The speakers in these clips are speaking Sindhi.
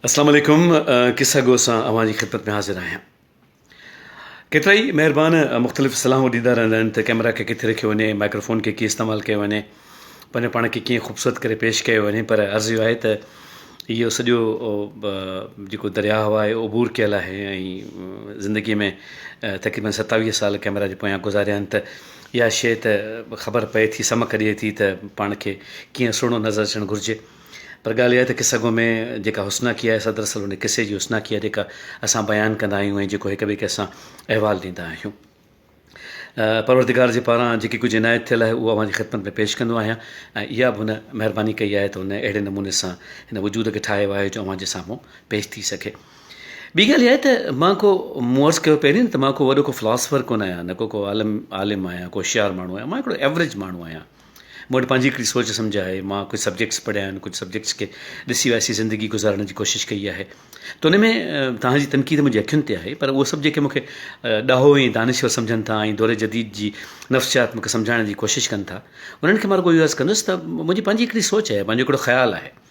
السلام عليڪم قصه گو سان اوهان جي خدمت ۾ حاضر آهيان ڪيترا ئي مهربان مختلف صلاحون ڏيندا رهندا آهن ته ڪئميرا کي ڪٿي رکيو وڃي مائڪروفون کي ڪيئن استعمال ڪيو وڃي پنهنجو پاڻ کي ڪيئن خوبصورت ڪري پيش ڪيو وڃي پر عرض اهو آهي ته اهو سڄو جيڪو درياء هوا آهي عبور ڪيل آهي ۽ زندگي ۾ تقريبن ستاويهه سال ڪئميرا جي پويان گذاريا آهن ته اها شيء ته خبر پئي ٿي سمک ڏئي ٿي ته پاڻ کي ڪيئن سهڻو نظر اچڻ گهرجي پر ڳالهه اها آهي ته قصه گو ۾ جيڪا حسناڪي آهي سا دراصل ان قصي جي حسناڪي آهي جيڪا اسان بيان ڪندا آهيون ۽ جيڪو هڪ ٻئي کي اسان احوال ڏيندا آهيون. پروردگار جي پاران جيڪي ڪجهه عنايت ٿيل آهي اهو اوهان جي خدمت ۾ پيش ڪندو آهيان ۽ اها به هن مهرباني ڪئي آهي ته هن اهڙي نموني سان هن وجود کي ٺاهيو آهي جو اوهان جي سامهون پيش ٿي سگهي. ٻي ڳالهه اها آهي ته مان ڪو مون عرض ڪيو پهرين ته مان ڪو وڏو ڪو فلاسفر ڪونه آهيان نه ڪو ڪو عالم عالم آهيان ڪو هوشيار ماڻهو آهيان مان هڪڙو ايوريج ماڻهو آهيان. مون وٽ پنهنجي هڪڙي سوچ سمجهه آهي، مان ڪجهه سبجيڪٽس پڙهيا آهن، ڪجهه سبجيڪٽس کي ڏسي واسي زندگي گذارڻ جي ڪوشش ڪئي آهي ته ان ۾ توهان جي تنقيد منهنجي اکين تي آهي پر اهو سڀ جيڪي مونکي ڏاهو ۽ دانشور سمجهن ٿا ۽ دور جديد جي نفسيات مونکي سمجهائڻ جي ڪوشش ڪن ٿا انهن کي مان رڳو اهو عرض ڪندس ته منهنجي پنهنجي هڪڙي سوچ آهي، پنهنجو هڪڙو خيال آهي.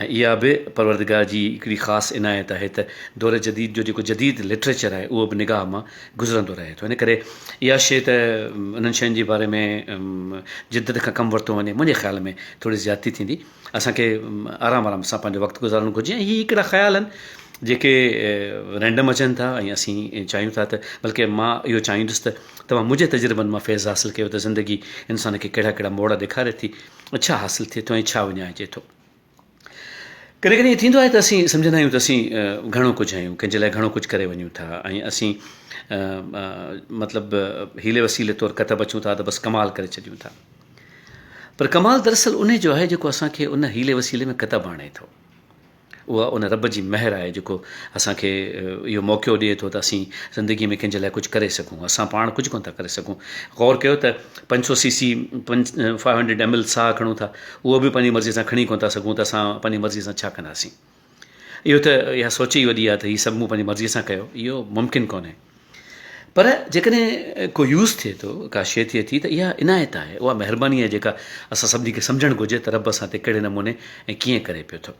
۽ اها به پروردگار جي هڪڙي خاص عنايت آهي ته دور جديد جو جيڪو جديد لٽريچر آهي اهو به نگاهه مان گذرندو رهي ٿو ان ڪري اها شيء ته انهن شين جي باري ۾ جدت کان ڪم ورتو وڃي منهنجي خيال ۾ ٿوري زيادتي ٿيندي اسان کي آرام آرام سان پنهنجو وقت گذارڻ گهرجي ۽ هي هڪڙا خيال آهن جيڪي رينڊم اچن ٿا ۽ اسين چاهيون ٿا ته بلڪه مان اهو چاهيندس ته توهان منهنجي تجربن مان فيض حاصل ڪيو ته زندگي انسان کي ڪهڙا ڪهڙا موڙ ڏيکاري ٿي ڇا حاصل ٿئي ٿو ۽ ڇا وڃائجي ٿو. ڪڏهن ڪڏهن ائين ٿيندو آهي ته اسين سمجهندا آهيون ته اسين گهڻو ڪجهه آهيون، ڪنهن جي لاء گهڻو ڪجهه ڪري وڃون ٿا ۽ اسين مطلب حيلي وسيلي طور ڪتب اچون ٿا ته بس ڪمال ڪري ڇڏيون ٿا. پر ڪمال دراصل انهي جو آهي جيڪو اسان کي ان حيلي وسيلي ۾ ڪتب آڻي ٿو. اها ان رب جي مهر آهي جيڪو اسان کي اهو موقعو ڏئي ٿو ته اسين زندگي ۾ ڪنهن جي لاء ڪجهه ڪري سگهون اسان پاڻ ڪجهه ڪونه ٿا ڪري سگهون غور ڪيو ته پنج سو سي سي پنج فائيو هنڊريڊ ايم ايل ساهه کڻون ٿا اهو به پنهنجي مرضي سان کڻي ڪونه ٿا سگهون ته اسان پنهنجي مرضي سان ڇا ڪنداسين اهو ته اها سوچ ئي وڏي آهي ته هي سڀ مون پنهنجي مرضي سان ڪيو اهو ممڪن ڪونهي پر جيڪڏهن ڪو يوز ٿئي ٿو، ڪا شيء ٿئي ٿي ته اها عنايت آهي، اها مهرباني آهي جيڪا اسان سڀني کي سمجهڻ گهرجي ته رب اسان تي ڪهڙي نموني ۽ ڪيئن ڪري پيو ٿو.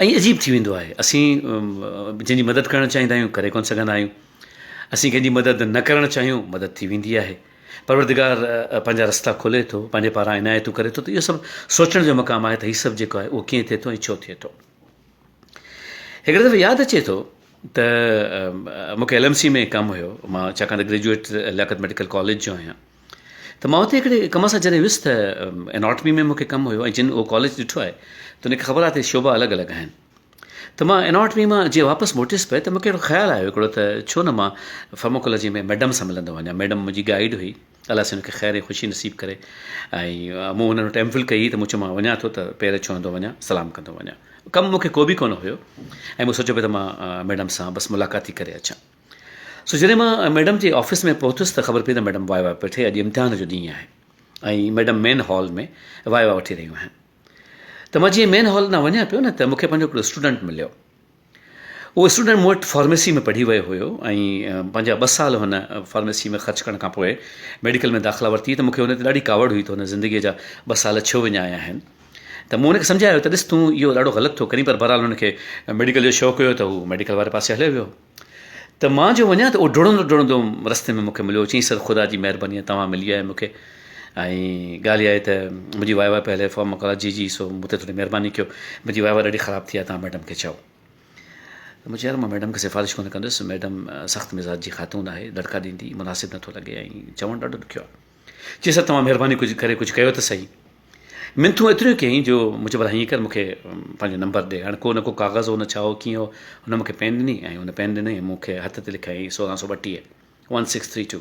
ائين عجيب ٿي ويندو آهي اسين جنهن جي مدد ڪرڻ چاهيندا آهيون ڪري ڪونه سگهندا آهيون. اسين ڪنهن جي مدد نه ڪرڻ چاهيون مدد ٿي ويندي آهي. پروردگار پنهنجا رستا کولي ٿو، پنهنجي پاران عنايتون ڪري ٿو ته اهو سڀ سوچڻ جو مقام آهي ته هي سڀ جيڪو آهي اهو ڪيئن ٿئي ٿو ۽ ڇو ٿئي ٿو. هڪڙي دفعي ياد اچي ٿو ته مون کي ايل ايم سي ۾ ڪم هيو مان ڇاڪاڻ ته گريجوئيٽ لياقت ميڊيڪل ڪاليج جو آهيان ته مان اتي هڪڙي ڪم سان جڏهن ويس ته اناٽمي ۾ مون کي ڪم هيو ۽ جن اهو ڪاليج ڏٺو آهي ته ان کي خبر آهي ته شعبا الڳ الڳ آهن ته مان اناٽمي مان جي واپس موٽيس پئي ته مون کي اهڙو خيال آيو هڪڙو ته ڇو نه مان فارموڪولوجي ۾ ميڊم سان ملندو وڃان ميڊم منهنجي گائيڊ هئي الله سائين ان کي خير ۽ خوشي نصيب ڪري ۽ مون هن وٽ ايم فل ڪئي ته مون چيو مان وڃان ٿو ته پير ڇهندو وڃان سلام ڪندو وڃان ڪم مون کي کو به ڪونه هيو ۽ مون سوچيو پئي ته مان ميڊم سان بس ملاقات ٿي ڪري اچان سو جڏهن مان ميڊم جي آفيس ۾ پهتس ته خبر پئي ته ميڊم واء واء پئي ٺهي اڄ امتحان جو ڏينهن آهي ۽ ميڊم مين هال ۾ واء واء وٺي رهيون آهن ته مان جيئن مين هال ڏانهن وڃان پيو نه ته مون کي پنهنجو هڪڙو اسٽوڊنٽ مليو اهو اسٽوڊنٽ مون وٽ فارميسي ۾ پڙهي ويو هيو ۽ پنهنجا ٻه سال هن فارميسي ۾ خرچ ڪرڻ کانپوء ميڊيڪل ۾ داخلا ورتي ته مون کي ان تي ڏاڍي ڪاوڙ هئي ته هن زندگيء جا ٻه سال ڇو وڃايا آهن ته مون هن کي سمجهايو ته ڏس تون اهو ڏاڍو غلط ٿو ڪرين پر بهرحال هن کي ميڊيڪل جو شوق هيو ته هو ميڊيڪل واري پاسي هليو ويو ته مان جو وڃان ته اهو ڊوڙندو ڊوڙندو رستي ۾ مون کي مليو چيائين سر خدا جي مهرباني توهان ملي آهيو مون کي ۽ ڳالهه اها آهي ته منهنجي واء واء پيل آهي فارم مڪرا جي جي سو مون تي ٿوري مهرباني ڪيو منهنجي واء واء ڏاڍي خراب ٿي آهي تان ميڊم کي چئو ته مون چيو يار مان ميڊم کي سفارش ڪونه ڪندس ميڊم سخت مزاج جي خاتون آهي دڙڪا ڏيندي مناسب نٿو لڳي ۽ چوڻ ڏاڍو ڏکيو آهي چي سر توهان مهرباني ڪجهه ڪري ڪجهه ڪيو ته سهي منٿون ايتريون ڪيائين جو مون چيو هيئن ڪر مونکي پنهنجو نمبر ڏي هاڻي ڪو نه ڪو ڪاغذ هو نه ڇا هو ڪيئن هو هن مونکي پين ڏني ۽ هن پين ڏني مونکي هٿ تي لکيائين سورهن سو ٻٽيهه ون سڪس ٿري ٽو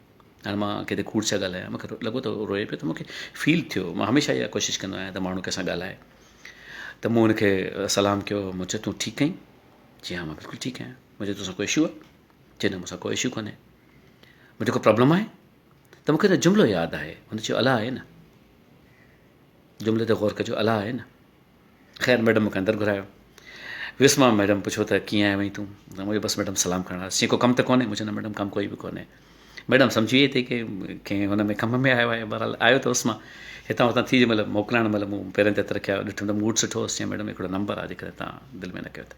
هاڻي مان ڪٿي کوڙ ڇا ڳالهايان مونکي لڳو ته روئي پيو ته مونکي فيل ٿيو مان هميشه اها ڪوشش ڪندو آهيان ته ماڻهو ڪنهنسان ڳالهائي ته مون هنکي سلام ڪيو مون چيو تون ٺيڪ ائين چي ها مان بلڪل ٺيڪ آهيان مون چيو توسان ڪو اشو آهي چي نه مونسان ڪو اشو ڪونهي مون چيو ڪو پرابلم آهي ته مونکي ته جملو ياد آهي هن چيو الا آهي نه جملي تي غور ڪجو الا آهي نه خير ميڊم مونکي اندر گهرايو ويس مان ميڊم پڇيو ته ڪيئن آهي وئين تون مونکي بس ميڊم سلام ڪرڻ آيس چي ڪو ڪم ته ڪونهي مون چيو نه ميڊم ڪم ڪوئي به ڪونهي ميڊم سمجهي وئي ته ڪي ڪنهن هن ۾ ڪم ۾ آيو آهي بهرحال آيو ته هوس مان هتان هتان ٿي مطلب موڪلائڻ مطلب مون پيرن تي هٿ رکيا ڏٺم ته موڊ سٺو هوس چي ميڊم هڪڙو نمبر آهي جيڪڏهن تان دل ۾ نه ڪيو ته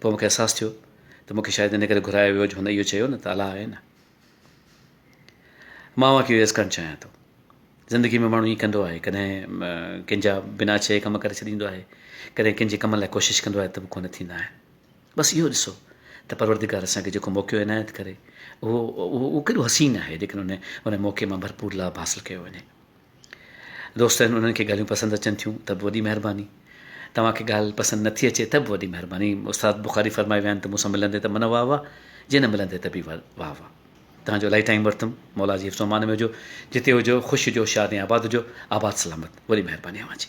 پوء مون کي احساس ٿيو ته مون کي شايد ان ڪري گهرايو ويو جو هن اهو چيو نه ته الله آهي نه. مان اوهان کي اهو عرض ڪرڻ چاهيان ٿو زندگي ۾ ماڻهو ائين ڪندو آهي ڪڏهن ڪن جا بنا چئي ڪم ڪري ڇڏيندو آهي ڪڏهن ڪن جي ڪم لاء ڪوشش ڪندو آهي ته به ڪو نه ٿيندا آهن بس اهو ڏسو ته پروردگار اسان کي جيڪو موقعو عنايت ڪري اهو اهو اهو ڪيڏو حسين آهي جيڪڏهن ان ان موقعي مان ڀرپور لاڀ حاصل ڪيو وڃي دوست آهن انهن کي ڳالهيون پسند اچن ٿيون ته به وڏي مهرباني توهان کي ڳالهه پسند نه ٿي اچي ته به وڏي مهرباني استاد بخاري فرمائي ويا آهن ته مون سان ملندي ته من واهه واهه جي نه ملندي ته به واهه واهه توهان جو الائي ٽائيم ورتم مولا جي حفظ و امان ۾ هجو جتي هجو خوش هجو شاد ۽ آباد هجو آباد سلامت وڏي مهرباني اوهان جي.